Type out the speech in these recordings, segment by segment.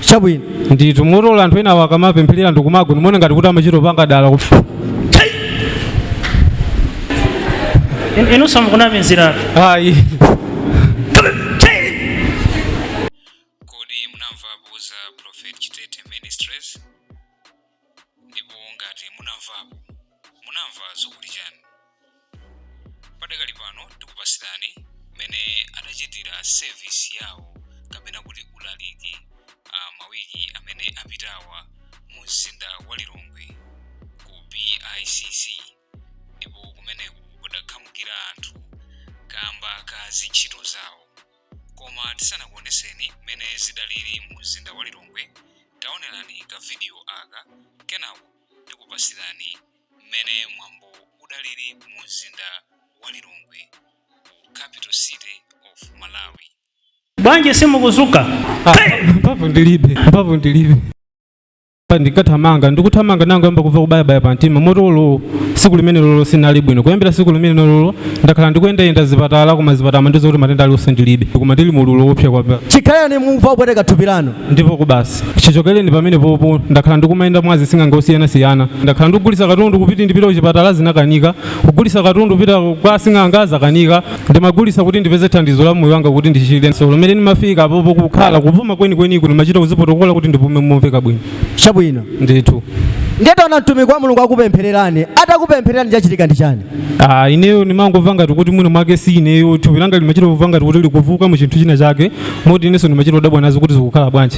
chabwino ndithu mukaona anthu enawo akamapempherera ndikumagwa ndimaona ngati kuti amachita kupanga dala kufu In- inunso mukunamiziratu ayi Ndipo ngati munamvapo, munamva zokuti chani? Padakali pano tikupasilani mmene adachitira service yawo kapena kuti ulaliki mawiki amene apitawa mu mzinda wa Lilongwe ku BICC ndipo kumeneko kudakhamukira anthu kamba ka ntchito zawo. koma tisanakuoneseni mmene zidalili mu mzinda wa lilongwe taonerani ka vidiyo aka kenako tikupasirani mmene mwambo udalili mu mzinda wa lilongwe ku capital city of malawi bwanji simukudzuka mphamvu ndilibe mphamvu ndilibe ndinkathamanga ndikuthamanga nangoyamba kumva kubayabaya pa mtima moti olo tsiku limenelolo sindinali bwino kuyambira tsiku limenelolo ndakhala ndikuyendayenda zipatala koma zipatala amandiuza kuti matenda alionse ndilibe koma ndili mu ululu woopsa kwambiri chikhalireni mukumva kupweteka thupi lanu ndipo basi chichokereni pamenepopo ndakhala ndikumayenda mwa asing'anga osiyanasiyana ndakhala ndikugulisa katundu kuti ndipite kuchipatala zinakanika kugulisa katundu kupita kwa sing'anga zakanika ndimagulisa kuti ndipeze thandizo la moyo wanga kuti ndichire tsopano mmene ndimafika apopo kukhala kupuma kwenikweniko ndimachita kudzipotokola kuti ndipume momveka bwino chabwino ndithu ndiye taona mtumiki wa mulungu akupemphererani atakupemphererani chachitika ndi chani Ah, ineyo ndimangomva ngati kuti mwina mwake si ineyo thupi langa limachita kumva ngati kuti likuvuuka mu chinthu china chake moti inenso ndimachita kudabwa nazo kuti zikukhala bwanji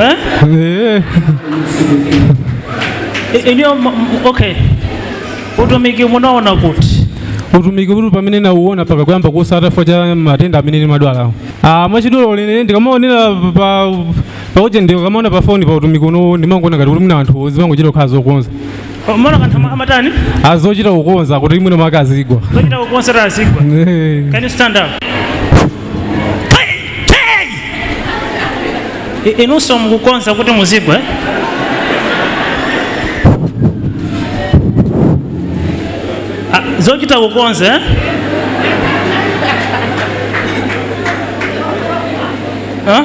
Eh? I- iniyo m- m- okay utumiki munaona kuti utumiki uwu pamene ndinauona mpaka kuyamba kutsata chifukwa cha matenda amene ndimadwalawo ah mwachidule ine ndikamaonera pa ujeni ndikamaona pa foni pa utumiki uno ndimangoona ngati kuti mwina anthu zimangochita kukhala zokonza Mumaona ngati anthu ama- amatani? azochita kukonza kuti mwina mwake azigwa Zochita kukonza kuti azigwa. Eh. Can you stand up? Hey, hey! I- Inunso mukukonza kuti muzigwa. eh? Ah, Zochita kukonza. eh? Huh?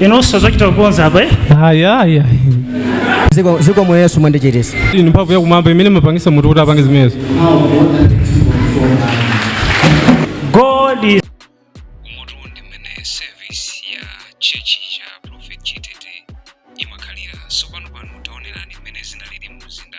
inunso zochita kukonza apa eh? ayi ayi ayi ziko zikomo yesu mwandichiritsa ili ndi mphamvu yakumwamba imene imapangisa munthu kuti apange zimenezo god is umu ndi mmene service ya tchetchi cha prophetic imakhalira tsopano pano taonerani mmene zinalili mu mzinda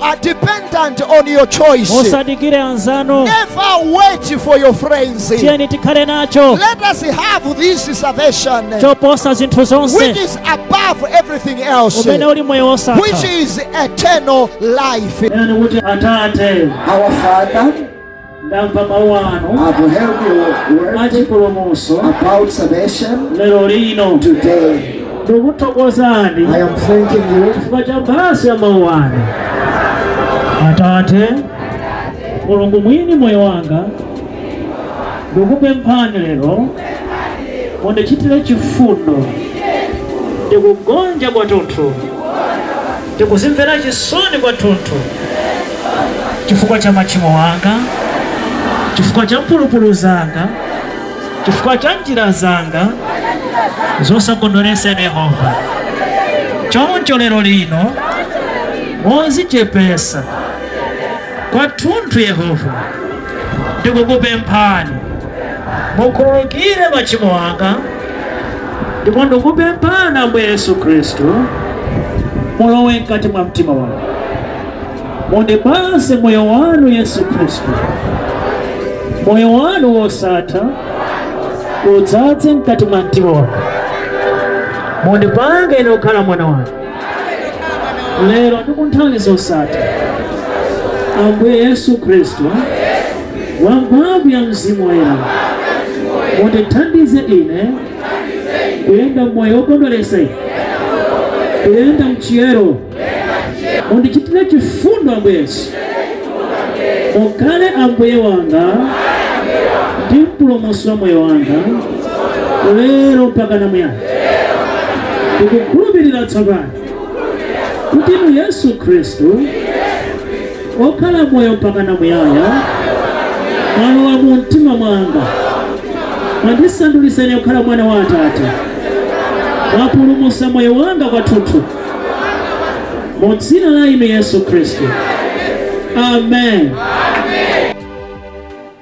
are dependent on your choice. musadikire anzanu Never wait for your friends. Let tiyeni tikhale nacho us have this salvation choposa zinthu which zonse is above everything else, umene uli moyo which wosatha is eternal life. Nani kuti atate Our Father, ndamva mawu anu I've heard your word achipulumuso about salvation lero lino today. ndikuthokozani I am thanking you chifukwa cha mphatso ya mawu anu atate mulungu mwini moyo wanga ndikupemphani lero mundichitire chifundo ndikugonja kwathunthu Ndikudzimvera chisoni kwathunthu chifukwa cha machimo anga, chifukwa cha mphulupulu zanga, chifukwa cha njira zanga zosakondweretsa inu Yehova. Choncho lero lino modzichepetsa kwathunthu yehova ndikukupemphani mukhululukire machimo anga ndipo ndikupemphani ambuye yesu khristu mulowe mkati mwa mtima wanga mundipatse moyo wanu yesu khristu moyo wanu wosatha udzaze mkati mwa mtima wanga mundipange ine kukhala mwana wanu lero ndi ku nthawi zosatha. Ambuye Yesu Khristu, mwa mphamvu ya Mzimu Woyera, mundithandize ine kuyenda m'moyo wokondweretsa inu, kuyenda m'chiyero. Mundichitire chifundo Ambuye Yesu, mukhale Ambuye wanga ndi mpulumutsi wa moyo wanga lero mpaka na muyaya. ndikukhulupirira tsopano kuti inu yesu khristu wokhala moyo mpaka na muyaya mwalowa mu mtima mwanga mwandisanduliza ine kukhala mwana wa atate mwapulumutsa moyo wanga kwathunthu mu dzina la inu yesu khristu amen, amen.